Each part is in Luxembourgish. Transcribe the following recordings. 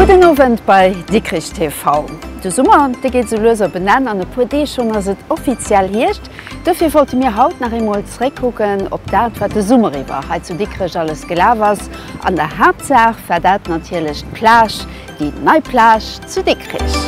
Gudden Owend bei Dikrich TV. De Summer, dee geet esou lues op en Enn. An e puer Deeg schonn ass et offiziell Hierscht. Dofir wollte mir haut nach eemol zeréckkucken op dat, wat de Summer iwwer hei zu Dikrech alles gelaf ass. An der Haaptsaach war dat natierlech d'Plage, déi nei Plage zu Dikrech.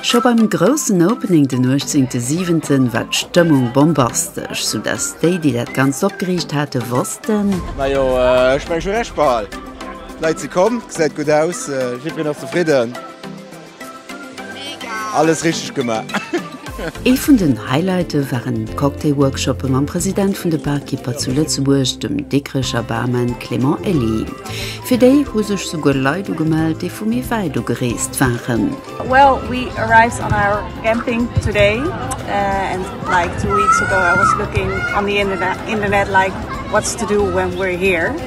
Scho beim groussen Opening den 18.7. war d'Stëmmung bombastesch, sou dass déi, déi dat Ganzt opgeriicht hate wossten, Majo ech meng schon recht behal, d'Leit si komm, gesäit gutt aus, jiddwereen ass zefridden. Alles richteg gemaach! Ee vun den Highlighte waren d'Cocktail-Workshoppe mam President vun de Barkeeper zu Lëtzebuerg, dem Dikrecher Barman Clément Elly. Fir déi hu sech souguer Leit ugemellt, déi vu méi wäit ugereest waren.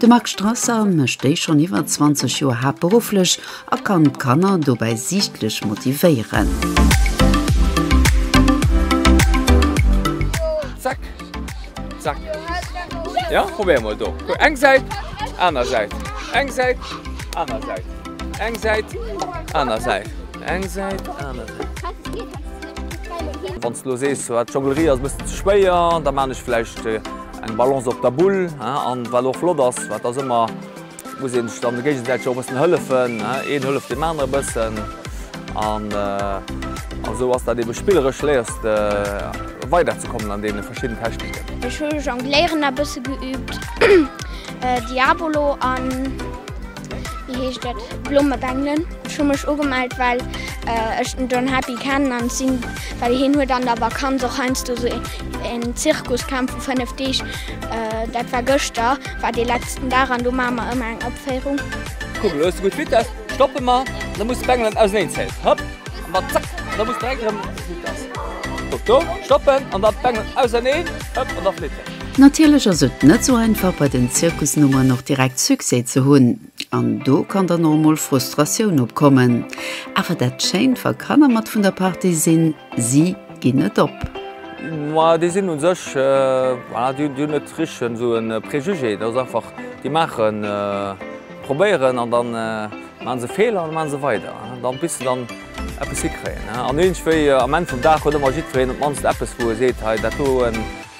De Marc Strasser mécht déi schonn iwwer 20 Joer haaptberufflech a kann d'Kanner dobäi siichtlech motivéieren. Eng Balance op der Bull an wat och flott ass, wat ass ëmmer, muss een sech dann géigesäiteg och e bëssen hëllefen, een hëlleft deem anere bëssen an esou ass dat eebe spilleresch, léiers de weider ze kommen an deene verschidden Techniken. Ech hu Jongléieren e bësse geüübt, Diabolo an. Wéi heescht dat? Blommebengelen. Ech hu mech ugemellt, well ech den John Happy kennen an sinn, well hien huet an der Vakanz och heiansdo sou een Zirkuscamp vu 5 Deeg. Dat war gëschter, war dee letzten Dag an do maache mer ëmmer eng Opféierung. Kuck, elo hues de gutt Vitess. Stoppe mer, da muss de d'Bengelen auseneenzeien. Hop, an dann zack, an da muss de direkt erëm Vitess. Kuck do, stoppen an dann d'Bengelen auserneen. Hop, an da flitt en. Natierlech ass et net sou einfach bei den Zirkusnummeren och direkt Succès ze hunn, an do kann dann och emol Frustratioun opkommen. Awer dat schéint, wa Kanner mat vun der Partie sinn, si ginn net op. Ma déi sinn u sech, voilà, déi hunn net richteg esou e Préjugé, dat ass einfach, déi maachen, probéieren an da maache se Feeler an da maache se weider, da bis se dann eppes hikréien. An iergendwéi am Enn vum Dag huet ëmmer jiddwereen op d'mannst eppes wou e seet, hei dat do,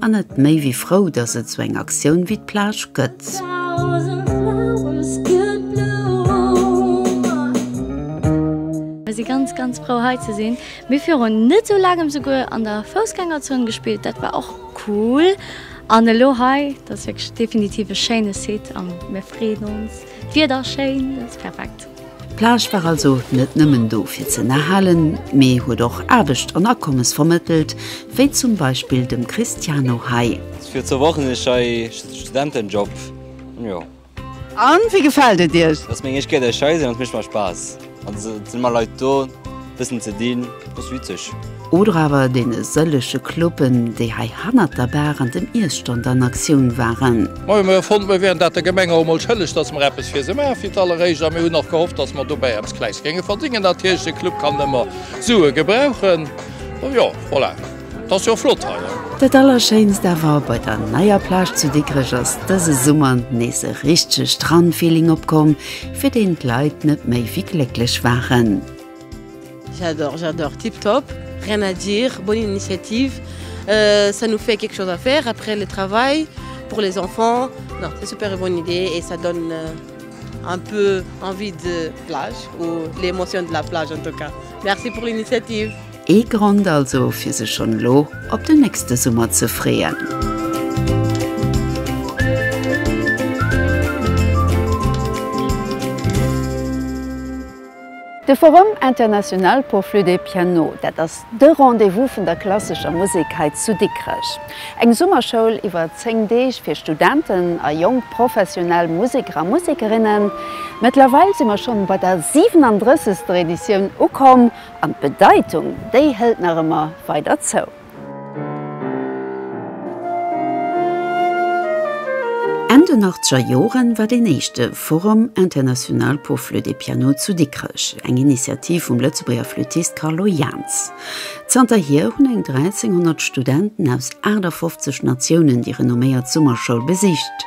An et méi wéi frou, dass et sou eng Aktioun wéi d'Plage gëtt. Mir si ganz ganz frou hei ze sinn. Mir viru net sou laangem souguer an der Foussgängerzon gespillt, dat war och cool. An elo hei, dat ass wierklech definitiv e schéine Site a mir freeën ons. D'Wieder ass schéin, et ass perfekt. D'Plage war also net nëmmen do fir ze ënnerhalen, mee huet och Aarbecht an Akommes vermëttelt, wéi zum Beispill dem Cristiano hei. Fir zwou Wochen hunn ech hei Studentenjob, jo. An wéi gefält et Iech? Et ass meng éischt Kéier, datt ech hei sinn an et mécht mer Spaass. An se sinn emmer Leit do bëssen ze dinn, dat ass witzeg. Oder awer deene sëllege Cluben, déi hei hannert der Bar an dem Iesstand an Aktioun waren. Mä mir hu fonnt, mir wieren dat der Gemeng och emol schëlleg, datt mer eppes fir se maachen, fir d'alleréischt. A mir hunn och gehofft, datt mer dobäi eppes Kleins géinge verdéngen. Natierlech, de Club kann ëmmer Sue gebrauchen. Jo, voilà. T'ass jo flott hei, ne? Dat allerschéinst awer bei der neier Plage zu Dikrech ass dëse Summer nees e richtege Strandfeeling opkomm, fir deen d'Leit net méi wéi glécklech waren. J'adore, j'adore, tip top, rien à dire, bonne initiative, ça nous fait quelque chose à faire après le travail, pour les enfants, non c'est super une bonne idée et ça donne un peu envie de plage ou l'émotion de la plage en tout cas, merci pour l'initiative. Ee Grond also fir sech schonn elo op den nächste Summer ze freeën. De Forum international pour flûte et piano, dat ass de Rendez-vous vun der klassescher Musek hei zu Dikrech. Eng Summerschoul iwwer 10 Deeg fir Studenten a jonk professionell Museker a Musekerinnen. Mëttlerweil si mer schonn bei der 37. Editioun ukomm. An d'Bedeitung, déi hëlt nach ëmmer weider zou. Enn den achtzeger Jore war deen éischte Forum international pour flûte et piano zu Dikrech, eng Initiativ vum Lëtzebuerger Flüttist Carlo Jaans. Zanterhier hunn eng 1.300 Studenten aus 58 Natiounen déi renomméiert Summerschoul besicht.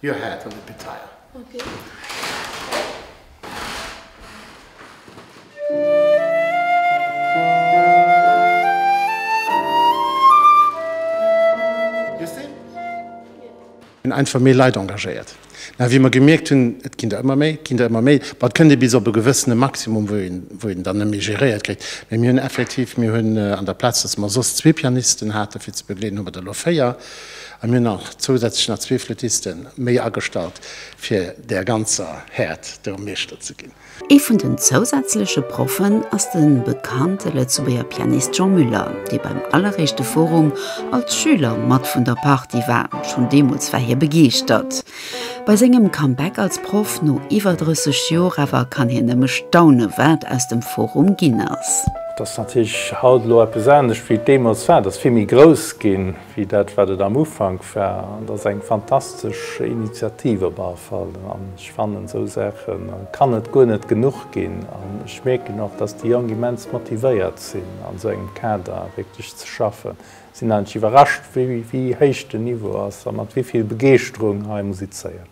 Your head on the petail. Hunn einfach méi Leit engagéiert. Mä wéi mer gemierkt hunn, et ginn der ëmmer méi, et ginn der ëmmer méi, bon, et kënnt ee bis op e gewëssene Maximum, wou een, wou een dann net méi geréiert kritt. Mä mir hunn effektiv, mir hunn an der Plaz, datt mer soss zwee Pianisten haten, fir ze begleeden, hu mer der elo véier. An mir hunn nach zousätzlech nach zwee Flüttisten méi agestallt, fir där ganzer Häert do Meeschter ze ginn. Ee vun den zousätzleche Proffen ass de bekannte Lëtzebuerger Pianist Jean Müller, dee beim alleréischte Forum als Schüler mat vun der Partie war. Schonn deemools war hie begeeschtert. Bei sengem Comeback als Proff no iwwer 30 Joer awer kann hien nëmme staunen, wat aus dem Forum ginn ass. Et ass natierlech haut elo eppes anescht, wéi et deemools war. Et ass vill méi grouss ginn. Wéi dat, wat et am Ufank war, dat ass eng fantastesch Initiativ op all Fall. An ech fannen, esou Saache kann et guer net genuch ginn. An ech mierken och, dass déi Jonk immens motivéiert sinn, an esou engem Kader wierklech ze schaffen. Sinn eigentlech iwwerrascht, wéi héich den Niveau ass a mat wéi vill Begeeschterung hei musizéiert.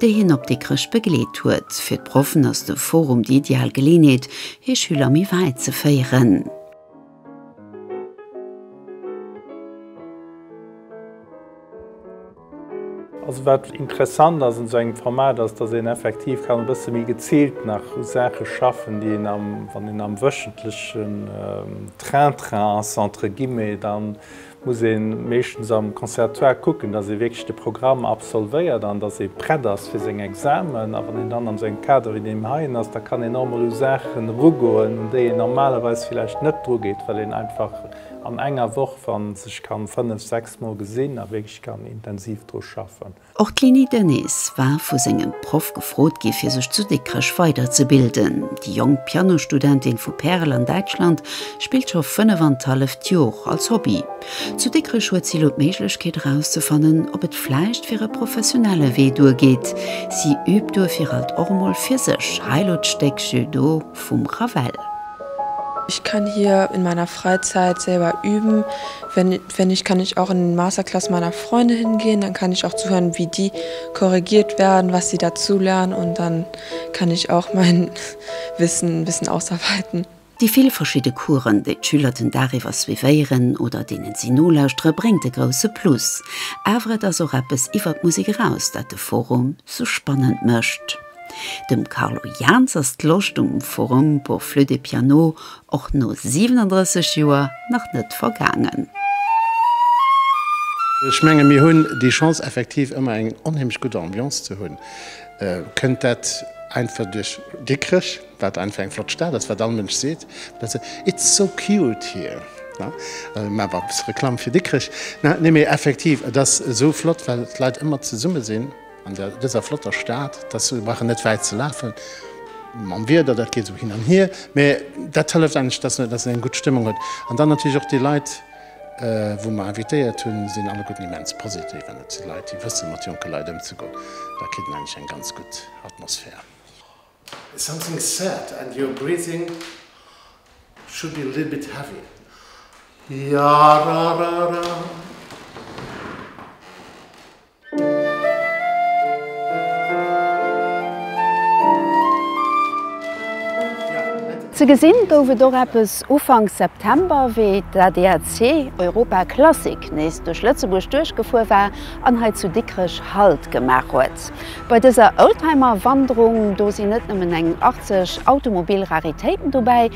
déi hien op Dikrech begleet huet. Fir d'Proffen ass de Forum déi ideal Geleeënheet, hir Schüler méi wäit ze féieren. Also wat interessant ass un esou engem Format ass, datt een effektiv kann e bësse méi geziilt nach u Saache schaffen, déi een am, wann een am wöchentlechen Train-train ass entre guillemets, dann, muss ee meeschtens am Conservatoire kucken, datt ee wierklech de Programm absolvéiert an datt ee prett ass fir seng Examen. A wann een dann an esou engem Kader wéi deem heien ass, da kann een och emol u Saachen erugoen, un déi een normalerweis villäicht net drugeet, well een einfach an enger Woch, wa sech kann, fënnef, sechs Mol gesinn a wierklech kann intensiv dru schaffen. Och d'Leonie Denis war vu sengem Proff gefrot gi fir sech zu Dikrech weider ze bilden. Déi jonk Pianostudentin vu Perl an Däitschland spillt scho 35 Jor als Hobby. Zu Dikrech huet si elo d'Méiglechkeet erauszefannen ob et vläicht fir e professionelle Wee duer geet. Si üübt duerfir alt och emol fir sech. Hei elo d'Stéck Jeu d'eau vum Ravel. Ich kann hier in meiner Freizeit selber üben, wenn. Wenn ich kann ich auch in den Masterclass meiner Freunde hingehen, dann kann ich auch zuhören, wie die korrigiert werden, was sie dazulernen und dann kann ich auch mein Wissen ein bisschen ausarbeiten. Déi vill verschidde Coursen, déi d'Schüler den Dag iwwer suivéieren oder deenen si nolauschtere bréngt e grousse Plus. Awer et ass och eppes iwwer d'Musek eraus, dat de Forum sou spannend mécht. Dem Carlo Jaans ass d'Loscht um Forum pour Flütt et Piano Och no 37 Joer nach net vergaangen. Ech menge mir hunn déi Chance effektiv ëmmer eng onheemlech gutt Ambiance ze hunn. Kënnt dat einfach duerch Dikrech, wat einfach eng flott Stad ass, wat all Mënsch seet, It's so cute here. Ech maache mol e bësse Reklamm fir Dikrech. Nee mee effektiv, et ass esou flott, well d'Leit ëmmer zesumme sinn. An dëser flotter Stad, dass se brauchen net wäit ze lafen mam Wieder, dat geet esou hin an hier, mä dat hëlleft endlech, dass een eng gutt Stëmmung huet. An dann natierlech och déi Leit, wou mer invitéiert hunn, sinn alleguerten immens positiv an et si Leit, déi wësse mat jonke Leit ëmzegoen. Da kritt een endlech eng ganz gutt Atmosphär. Something sad and your breathing should be a little bit heavy, Yararara. Ze gesinn gouf et och eppes Ufank September, wéi d'ADAC Europa Classic nees duerch Lëtzebuerg duerchgefuer war an hei zu Dikrech Halt gemaach huet. Bei dëser Oldtimer-Wanderung, do sinn net nëmmen eng 80 Automobil-Raritéiten dobäi,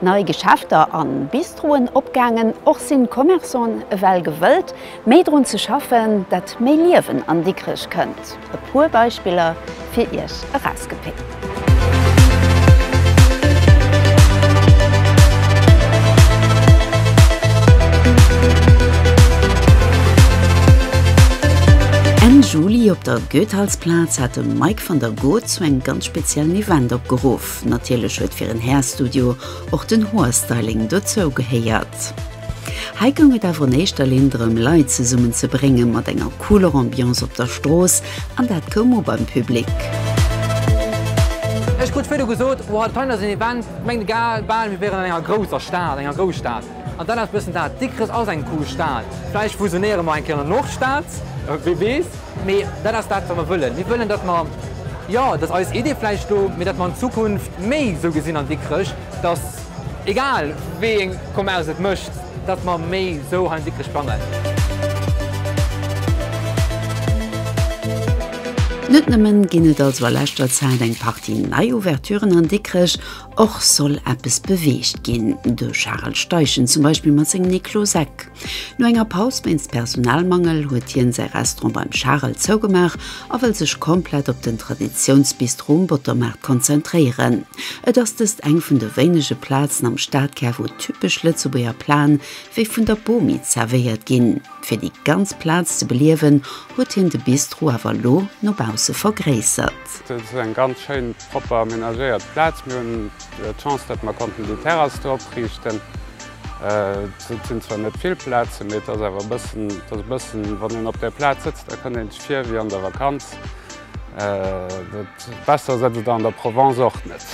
Nei Geschäfter a Bistroen opgaangen, och sinn d'Commerçanten ewell gewëllt méi drun ze schaffen, dat méi Liewen an Dikrech kënnt. E puer Beispiller fir iech erausgepickt. Enn Juli op der Goethals-Plaz hat de Mike van der Goot zu engem ganz speziellen Event opgeruff. Natierlech huet fir en Hairstudio och den Hoerstyling dozou gehéiert. Hei goung et awer an éischter Linn drëm Leit zesummen ze bréngen mat enger cooler Ambiance op der Strooss an dat koum u beim Public. Ech krut virdu gesot, Oha, d'Peine ass en Event, mengt e gaer bal mir wieren an enger grousser Stad, enger Grousstad. An dat ass bëssen dat, Dikrech ass eng cool Stad. Vläicht fusionéiere mer eng Kéier an der Nordstad, wee weess. Mee dat ass dat, wat mer wëllen. Mir wëllen, datt mer, jo, datt eis Idee vläicht do, mee datt mer an Zukunft méi esou gesinn an Dikrech, datt, egal wéi eng Commerce et mécht, datt mer méi esou hei an Dikrech plangen. Net nëmmen ginn et also a leschter Zäit eng Partie nei Ouverturen an Dikrech. Och soll eppes beweegt ginn, de Charel Steichen zum Beispill mat sengem Niklo Seck. No enger Paus wéinst Personalmangel huet hien säi Restaurant beim Charel zougemaach a wëll sech komplett op den Traditiounsbistro um Bottermaart konzentréieren. Et ass dëst eng vun de wéinege Plazen am Stadkär wou typesch Lëtzebuerger Plaen wéi vun der Bomi zerwéiert ginn. Fir déi ganz Plaz ze beliewen huet hien de Bistro awer elo no bausse vergréissert. Bett. Et ass eng ganz schéin, propper amenagéiert Plaz. Mir hunn d'Chance, datt mer konnten déi Terrass do opriichten. Et sinn zwar net vill Plazen, mee et ass awer e bëssen, et ass e bëssen, wann een op där Plaz sëtzt, da kënnt een sech vir wéi an der Vakanz. Besser ass et an der Provence och net.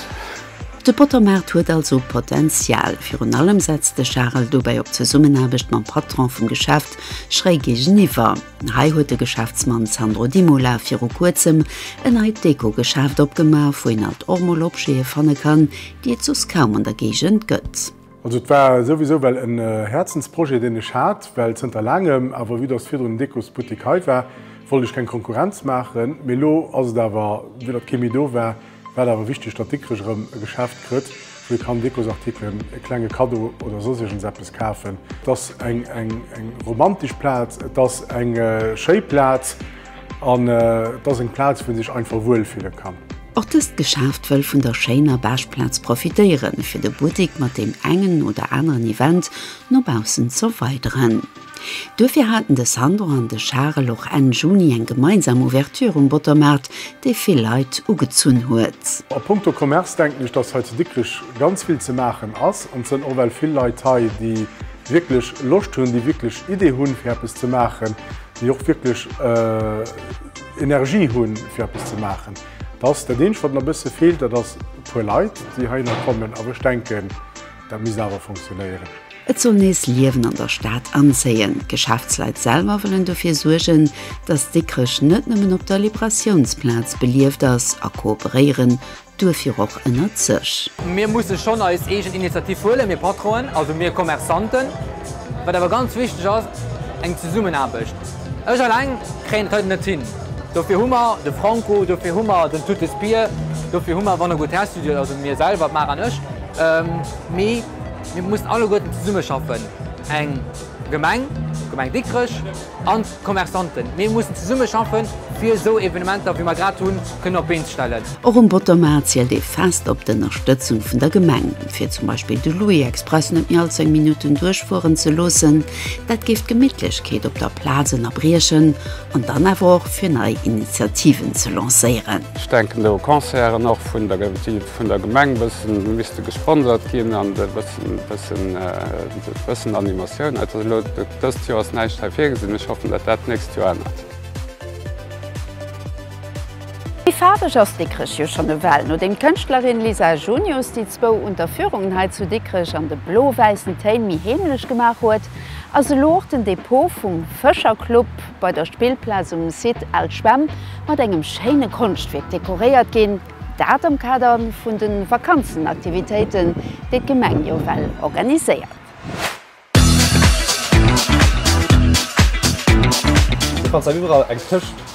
De Pottomaart huet also Potential. Virun allem setzt de Charel dobäi op d'Zesummenaarbecht mam Patron vum Geschäft schräi géigeniwwer. Hei huet de Geschäftsmann Sandro Dimola viru kuerzem en neit Deko-Geschäft opgemaach, wou een alt och mol Objete fanne kann, déi et soss kaum an der Géigend gëtt. Also et war souwisou well en Häerzensprojet deen ech hat, well zënter laangem, awer vue dass virdrun en Dekosbuttik hei war, wollt ech keng Konkurrenz maachen, mee elo ass et awer, vue datt kee méi do war, War et awer wichteg, datt Dikrech erëm e Geschäft krëtt, wou ee kann Dekosartikelen, e klenge Kaddo oder soss iergendseppes kafen. Et ass eng romantesch Plaz, et ass eng schéi Plaz an et ass eng Plaz, wou ee sech einfach wuel fille kann. Och dëst Geschäft wëll vun der schéiner Beschplaz profitéieren, fir de Buttik mat deem engen oder aneren Event no baussen z'erweideren. Duerfir haten de Sandro an de Charel och Enn Juni eng gemeinsam Ouverture um Bottermaart, déi vill Leit ugezunn huet. A punkto Commerce denken ech, dass hei zu Dikrech ganz vill ze maachen ass an et sënn och well vill Leit hei, déi wierklech Loscht hunn, déi wierklech Idee hunn, fir eppes ze maachen, déi och wierklech Energie hunn, fir eppes ze maachen. Dass dat Eenzegt, wat nach e bësse feelt, dat ass e puer Leit, déi heihinner kommen. Awer ech denken. Dat misst awer funktionéieren. Et soll nees Liewen an der Stad anzéien. D'Geschäftsleit selwer wëllen dofir suergen, datt Dikrech net nëmmen op der Liberatiounsplaz belieft ass a kooperéieren duerfir och ënnert sech. Mir musse schonn eis eegen Initiativ huelen, mir Patronen, also mir Commerçanten. Wat awer ganz wichteg ass, eng Zesummenaarbecht. Ech alleng kréien et hei net hin. Dofir hu mer de Franco, dofir hu mer den Tutes Bier, dofir hu mer Wanne Goût Restudioet, also mir selwer, d'Mara an ech. Mee mir mussen alleguerten zesummeschaffen, eng Gemeng, d'Gemeng Dikrech an d'Commerçanten. Mir mussen zesummeschaffen, fir esou Evenementer, wéi mer grad hunn, kënnen op d'Been ze stellen. Och um Bottermaart zielt ee fest op d'Ënnerstëtzung vun der Gemeng, fir zum Beispill de Louis Express net méi all zéng Minutten duerchfueren ze loossen. Dat géif d'Gemittlechkeet op der Plaz ënnerbriechen. An dann awer och fir nei Initiativen ze lancéieren. Ech denken do u Concerten och vun der, déi vun der Gemeng bëssen misste gesponsert ginn an e bëssen, bëssen, bëssen Animatioun. Also elo dëst Joer ass näischt hei virgesinn. Ech hoffen, datt dat d'nächst Joer ännert. Méi faarweg ass Dikrech jo schonn ewell. Nodeem d'Kënschtlerin Lisa Junius déi zwou Unterführungen hei zu Dikrech an de blo-wäissen Téin méi heemlech gemaach huet, Ass elo och den Depot vum Fëscherclub bei der Spillplaz um Site Al Schwemm mat engem schéine Konschtwierk dekoréiert ginn, dat am Kader vun de Vakanzenaktivitéiten, déi d'Gemeng jo well organiséiert. Du kanns dat iwwerall eng Këscht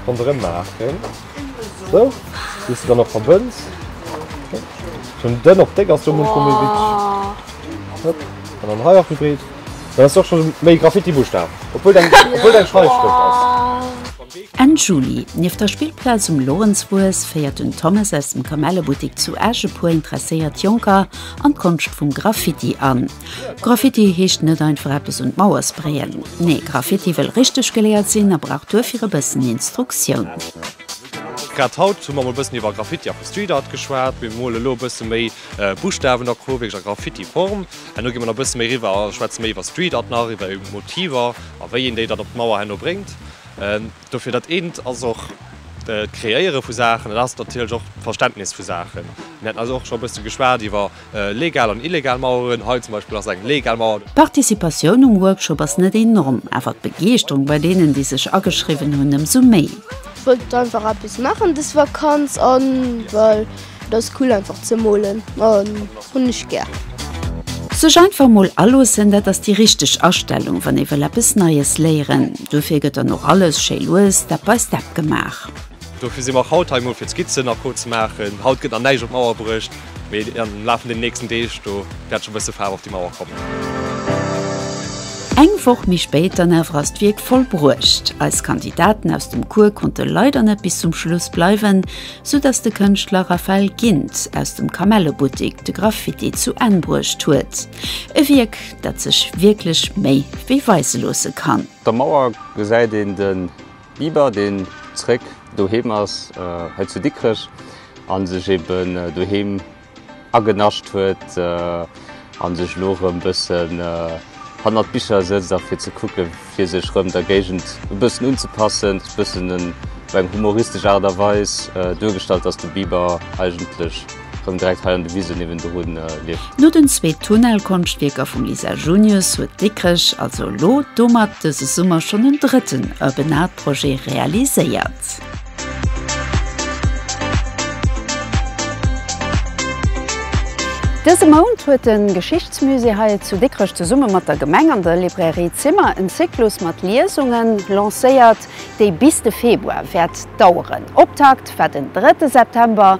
ronderëm maachen. Sou, bis dann op verbënns. Schon dënn op déck ass jo mol vu An dann hei och gebreet. Da ass och schon méi Graffiti Buschtab. Obwuel deng obwuel deng Schreifschrëft ass. Enn Juli, nieft der Spillplaz um Lorenzfues, féiert den Thomas aus dem Kamellebuttik zu Esch e puer interesséiert Jonker an d'Konscht vum Graffiti an. Graffiti heescht net einfach eppes un d'Mauer sprayen. Nee, Graffiti wëll richteg geléiert sinn a brauch duerfir e bëssen Instruktioun. Grad haut hu mer mol e bëssen iwwer Graffiti a vu Street Art geschwat. Mir mole lo e bësse méi Buschtawen a Co. Wierklech a Graffiti-Form. An elo gi mer nach e bësse méi eriwwer a schwätze méi iwwer Street Art nach, iwwer Motiver a wéi een déi dann op d'Mauer herno bréngt. Dofir dat eent ass och d'Kreéiere vu Saachen, dat ass natierlech och d'Verständnis vu Saachen. Mir haten also och scho e bësse geschwat iwwer legal an illegal Maueren. Hei zum Beispill ass eng legal Mauer. D'Participatioun um Workshop ass net enorm, awer d'Begeeschterung bei deenen, déi sech ageschriwwen hunn, ëmsou méi. Wollt einfach eppes maachen des Vakanz an well. Et ass cool einfach ze molen an hunn ech gär. Sech einfach mol aloossen, dat ass déi richteg Astellung wann ee wëll eppes Neies léieren. Dofir gëtt dann och alles schéi lues Step by Step gemaach. Dofir sinn mer och haut hei, mol fir d'Skizzen nach pro ze maachen. Haut gëtt nach näischt op d'Mauer bruecht, mee am Laf vun den nächsten Deeg do wäert scho e bësse Faarf op déi Mauer kommen. Eng Woch méi spéit dann awer ass d'Wierk vollbruecht. Eis Kandidaten aus dem Cours konnte leider net bis zum Schluss bleiwen, sou dass de Kënschtler Raphael Gindt aus dem Kamellebuttik de Graffiti zu Enn bruecht huet, e Wierk, dat sech wierklech méi wéi weise loosse kann. Op der Mauer gesäit een de Biber, deen zeréck doheem ass, hei zu Dikrech, a sech eeben doheem. agenascht huet an sech elo erëm bëssen hannert Bicher sëtzt a fir ze kucken fir sech erëm der Géigend e bëssen unzepassen, bëssen op eng humoristesch Aart a Weis duergestallt dass de Biber eigentlech erëm direkt hei an de Wise niewendru lieft. No den zwee Tunnelkonschtwierker vum Lisa Junius huet Dikrech also elo domat dëse Summer schonn en drëtten Urban Art Projet realiséiert. Dëse Mount huet de Geschichtsmusée hei zu Dikrech zesumme mat der Gemeng an der Librairie Zimmer en Zyklus mat Liesungen lancéiert, déi bis de Februar wäert daueren. Optakt war den drëtte September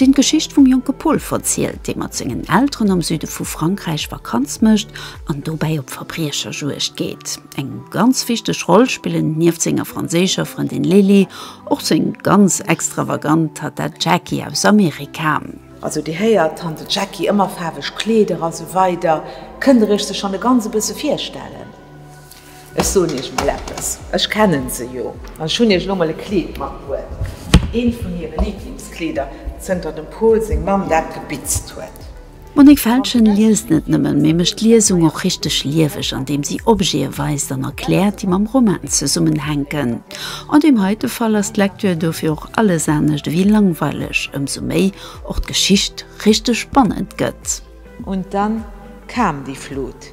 deen d'Geschicht vum jonke Paul verzielt, dee mat sengen Elteren am Süde vu Frankräich Vakanz mécht an dobäi op Verbriecherjuegd geet. Eng ganz wichteg Roll spillen nieft senger franséischer Frëndin Lili och seng ganz extravagant Tante Jackie aus Amerika. Also Dir héiert, Tante Jackie, ëmmer faarweg Kleeder a sou weider. Kënnt Der Iech se schonn e ganz e bësse virstellen? Ech soen iech emol eppes, ech kennen se jo an ech hunn iech elo emol e Kleed matbruet, eent vun hire Lieblingskleeder zënter dem Pol seng Mamm dat gebitzt huet. D'Monique Feltgen liest net nëmmen, mee mécht d'Liesung och richteg lieweg an deem si Objete weist an erkläert, déi mam Roman zesummenhänken. An deem heite Fall ass d'Lektür dofir och alles anescht ewéi langweileg, ëmsou méi och d'Geschicht richteg spannend gëtt. Und dann kam die Flut.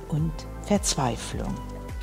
und Verzweiflung.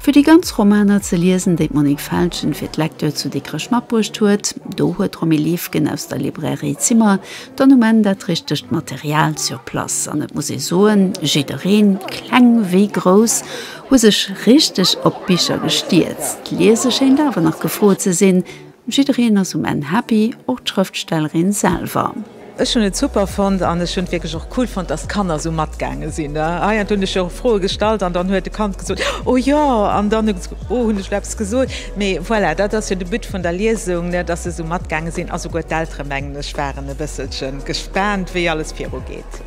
Fir déi ganz Romaner ze liesen, déi d'Monique Feltgen fir d'Lecture zu Dikrech matbruecht huet, do huet d'Romy Liefgen aus der Librairie Zimmer dann um Enn dat richtegt Material sur place. An et muss ee soen, jiddereen, kleng wéi grouss, hu sech richteg op d'Bicher gestierzt. Liese schéint awer nach gefrot ze sinn, Jiddereen ass um Enn happy, och d'Schrëftstellerin selwer. Ech hunn et super fonnt an ech hunn et wierklech och cool fonnt, dass d'Kanner esou matgaange sinn. Hei an do hunn ech jo Froe gestallt an dann huet e Kand gesot, oh jo, an dann huet gesot, oh hunn ech elo eppes gesot? Mee voilà, dat ass jo de But vun der Liesung, dass se esou matgaange sinn a souguer d'Eltere mengen ech waren e bësselche gespaant, wéi alles virugeet.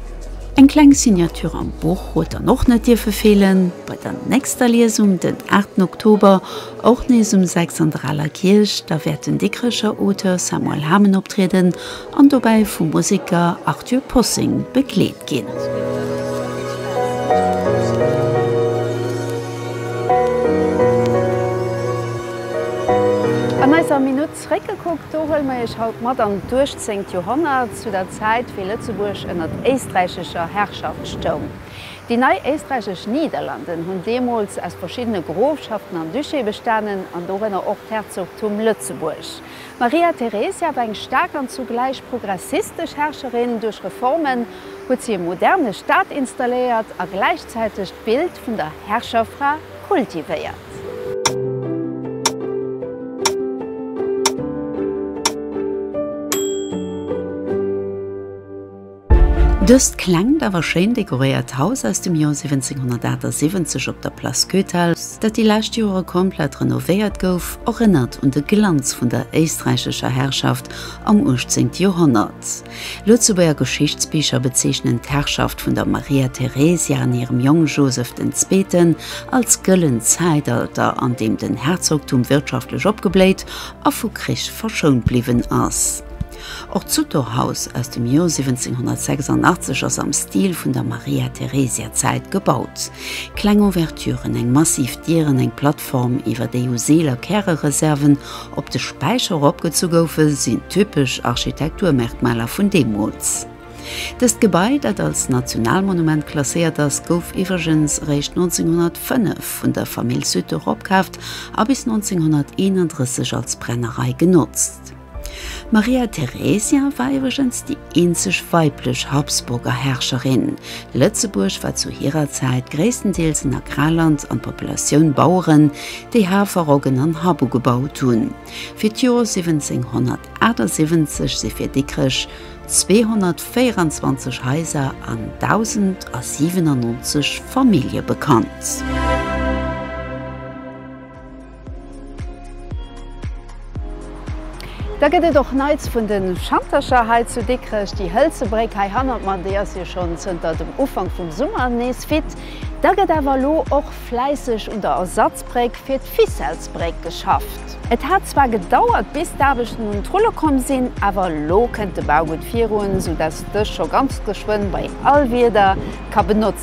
Eng kleng Signature am Buch huet dann och net dierfe feelen. Bei der nächster Liesung den 8 Oktober Och nees um 6 an der Aler Kierch. Da wäert den Dikrecher Auteur Samuel Hamen optrieden an dobäi vum Museker Arthur Possing begleet ginn. An eiser Minutt Zréckgekuckt, do huele mer Iech haut mat an d'Uechtzéngt Joerhonnert, zu der Zäit wéi Lëtzebuerg ënnert éisträichescher Herrschaft stoung. Déi nei éisträichesch Niederlanden hunn deemools aus verschiddene Grofschaften an Duché bestanen, an dorënner och d'Herzogtum Lëtzebuerg. D'Maria Theresia war eng staark an zugläich progressistesch Herrscherin. Duerch Reformen huet si e moderne Staat installéiert a gläichzäiteg d'Bild vun der Herrscherfra kultivéiert. Dëst klengt awer schéin dekoréiert Haus aus dem Joer 1778 op der Place Goethals, dat déi lescht Jore komplett renovéiert gouf, erënnert un de Glanz vun der éisträichescher Herrschaft am 18. Joerhonnert. Lëtzebuerger Geschichtsbicher bezeechnen d'Herrschaft vun der Maria Theresia an hirem Jong Joseph den Zweeten als gëllent Zäitalter, an deem den Herzogtum wirtschaftlech opgebléit a vu Krich verschount bliwwen ass. Och d'Sutor-Haus aus dem Joer 1786 ass am Stil vun der Maria-Theresia-Zäit gebaut. Kleng Ouverturen, eng massiv Dier an eng Plattform, iwwer déi u Seel a Kärereserven op de Späicher eropgezu goufen, sinn typesch Architekturmerkmaler vun deemools. Dëst Gebai, dat als Nationalmonument klasséiert ass, gouf iwwregens eréischt 1905 vun der Famill Sutor opkaaft a bis 1931 als Brennerei genotzt. D'Maria Theresia war iwwregens déi eenzeg weiblech Habsburger Herrscherin. Lëtzebuerg war zu hirer Zäit gréisstendeels en Agrarland an d'Populatioun Baueren, déi Hafer, Roggen an Happ ugebaut hunn. Fir d'Jor 1778 si fir Dikrech 224 Haiser an 1.097 Famillje bekannt. Da gëtt et och Neits vun de Schantercher hei zu Dikrech. Déi hëlze Bréck hei hannert mer, déi ass jo schonn zënter dem Ufank vum Summer nees fit. Da gëtt awer elo och fläisseg un der Ersatzbréck fir d'Ficelles-Bréck geschafft. Et hat zwar gedauert, bis d'Aarbechten un d'Rulle komm sinn, awer elo kënnt de Bau gutt virun, soudass dës scho ganz geschwënn bei all Wieder ka benotzt ginn.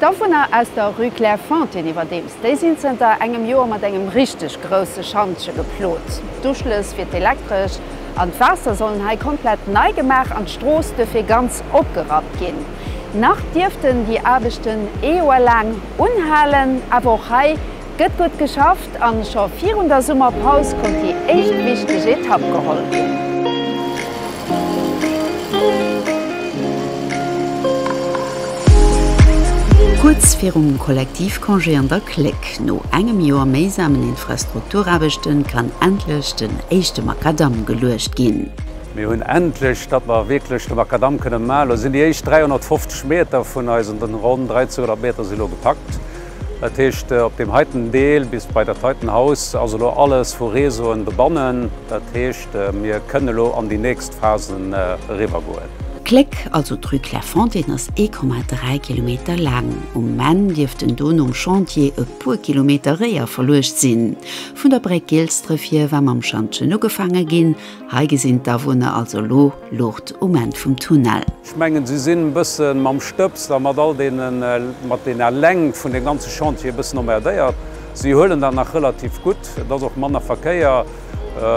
D'Awunner aus der Rue Clairefontaine iwwerdeems, déi sinn zënter engem Joer mat engem richteg grousse Schantje geplot. D'Uschlëss fir d'Elektresch an d'Waasser sollen hei komplett nei gemaach an d'Strooss duerfir ganz opgerappt ginn. Nach dierften déi Aarbechten ee Joer laang unhalen, awer och hei Gëtt gutt geschafft an scho virun der Summerpaus konnt déi éischt wichteg Etapp geholl ginn. Kuerz virum Kollektivcongé an der Cléck, no engem Joer méisamen Infrastrukturaarbechten, kann endlech den éischte Makadamm geluecht ginn. Mir hunn endlech, datt mer wierklech de Makadamm kënne man. Elo sinn déi éischt 350 Meter vun eisen ronn 1300 Meter si lo gepackt. Dat heescht op deem heiten Deel bis bei dat heiten Haus ass elo alles vu Réseauen bebannen. Dat heescht mir kënnen elo an déi nächst Phasen eriwwer goen. D'Kléck, also d'Rue Clairefontaine ass 1,3 Kilometer laang. Um Enn dierft en do nom Chantier e puer Kilometer réier verluecht sinn. Vun der Bréck Gilsdref hier war mam Schantjen ugefaange ginn. Hei gesinn d'Awunner also elo Luucht um Enn vum Tunnel. Ech mengen, si sinn e bësse mam Stëbs a mat all deene, mat deene Läng vun deem ganze Chantier e bëssen emmerdéiert. Si huelen dat nach relativ gutt, et ass och manner Verkéier.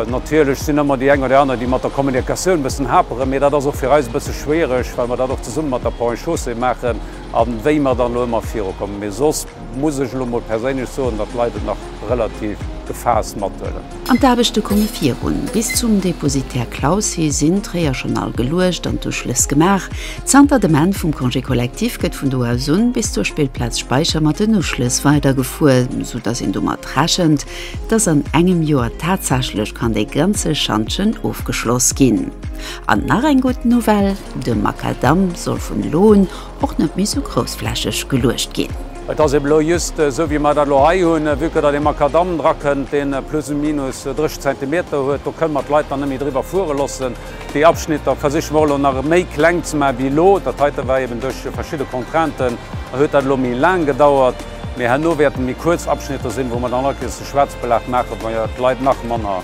Natierlech sinn ëmmer déi eng oder déi aner, déi mat der Kommunikatioun e bëssen haperen, mee dat ass och fir eis e bësse schwiereg, well mer dat och zesumme mat der Ponts et Chaussées maachen a wéi mer dann elo ëmmer virukommen. Mee soss. muss ech elo mol perséinlech soen, datt d'Leit et nach relativ gefaasst mathuelen. An d'Aarbechte komme virun. Bis zum Depositaire Claussy sinn d'Réier schonn all geluecht an d'Uschlëss gemaach. Zanter dem Enn vum Congé collectif gëtt vun do aus un bis zur Spillplaz Speicher mat den Uschlëss weidergefuer, sou datt een domat rechent, datt an engem Joer tatsächlech kann dee ganze Schantjen ofgeschloss ginn. An nach eng gutt Nouvelle, de Makadamm soll vun elo un Och net méi sou groussflächeg geluecht ginn. Et ass ebe lo jhust sou wéi mer dat elo hei hunn, vue que datt ee Makadam drakënnt, dee plus ou minus 30 Zentimeter huet. Do kënne mer d'Leit dann net méi driwwer fuere loossen. Déi Abschnitter versiche mer och elo nach méi kleng ze maachen wéi elo. Dat heite war eben duerch verschidde Contrainten huet dat elo méi laang gedauert, mee herno wäerte méi kuerz Abschnitter sinn, wou mer dann alt Kéiers de Schwarzbelag maachen, wou d'Leit nach manner.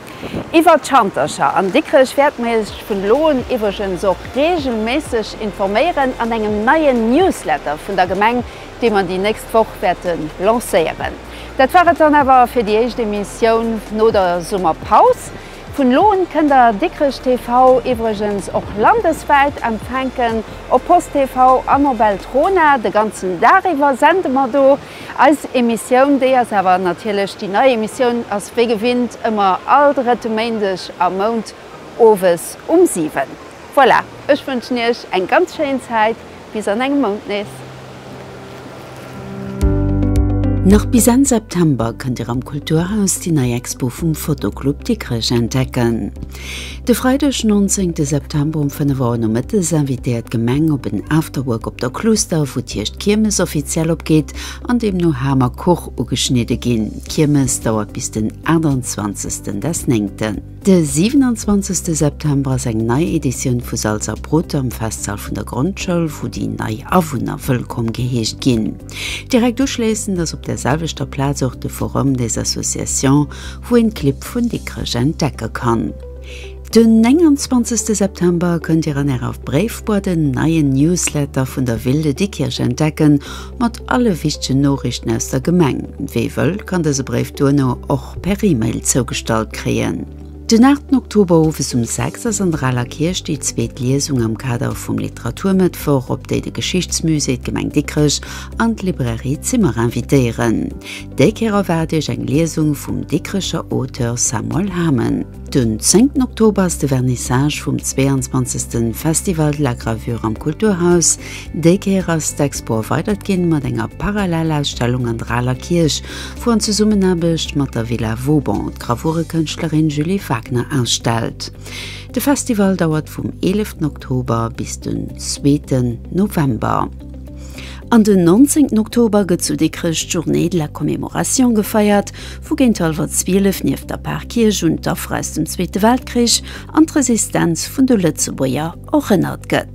Iwwer d'Schantercher an Dikrech wäerte mir iech vun elo un iwweregens och reegelméisseg informéieren an engem neien Newsletter vun der Gemeng, dee mer déi nächst Woch wäerte lancéieren. Dat war et dann awer fir déi éischt Emissioun no der Summerpaus. Vun elo un kënnt der Dikrech TV iwweregens och landeswäit empfänken, op Post TV an op Eltrona. De ganzen Dag iwwer sende mer do. Eis Emissioun, déi ass awer natierlech déi nei Emissioun, ass wéi gewinnt ëmmer all drëtte Méindeg am Mount owes um 7. Voilà, ech wënschen Iech eng ganz schéin Zäit, bis an engem Mount nees. Nach bis Enn September kënnt Dir am Kulturhaus déi nei Expo vum Photo Club Dikrech entdecken. De Freideg 19 de September um 5 Auer nomëttes invitéiert d'Gemeng op en Afterwork op der Cluster, wou d'Hierscht d'Kiermes offiziell opgeet an deemno Ham a Kuch ugeschnidde ginn. D'Kiermes dauert bis den 28 des Néngten. De 27 September ass eng nei Editioun vu Salz a Brot am Festsall vun der Grondschoul, wou déi nei Awunner wëllkomm geheescht ginn. Direkt uschléissend ass op der selwechter Plaz och de Forum des associations, wou een d'Clibb vun Dikrech entdecke kann. Den 29 September kënnt Dir an Ärer Bréifboîte den neien Newsletter vun der Ville de Dikrech entdecken, mat alle wichtegen Noriichten aus der Gemeng. Wie wëll, kann dëse Bréif duerno och per Email zougestallt kréien. Den 8 Oktober owes um 6 ass an der Aler Kierch déi zweet Liesung am Kader vum Literaturmëttwoch, op déi de Geschichtsmusée, d'Gemeng Dikrech an d'Librairie Zimmer invitéieren. Déi Kéier erwaart Iech eng Liesung vum Dikrecher Auteur Samuel Hamen. Den 10 Oktober ass de Vernissage vum 22. Festival de la Gravure am Kulturhaus. Déi Kéier ass d'Expo erweidert ginn mat enger Parallellausstellung an der Aler Kierch, wou an Zesummenaarbecht mat der Villa Vauban d'Gravurekënschtlerin Julie Wagner ausstellt. De Festival dauert vum 11 Oktober bis den zweeten November. An den 19 Oktober gëtt zu Dikrech d'Journée de la Commémoration gefeiert, wou géint hallwer 12 nieft der Parkierch un d'Affer aus dem Zweete Weltkrich an d'Resistenz vun de Lëtzebuerger erënnert gëtt.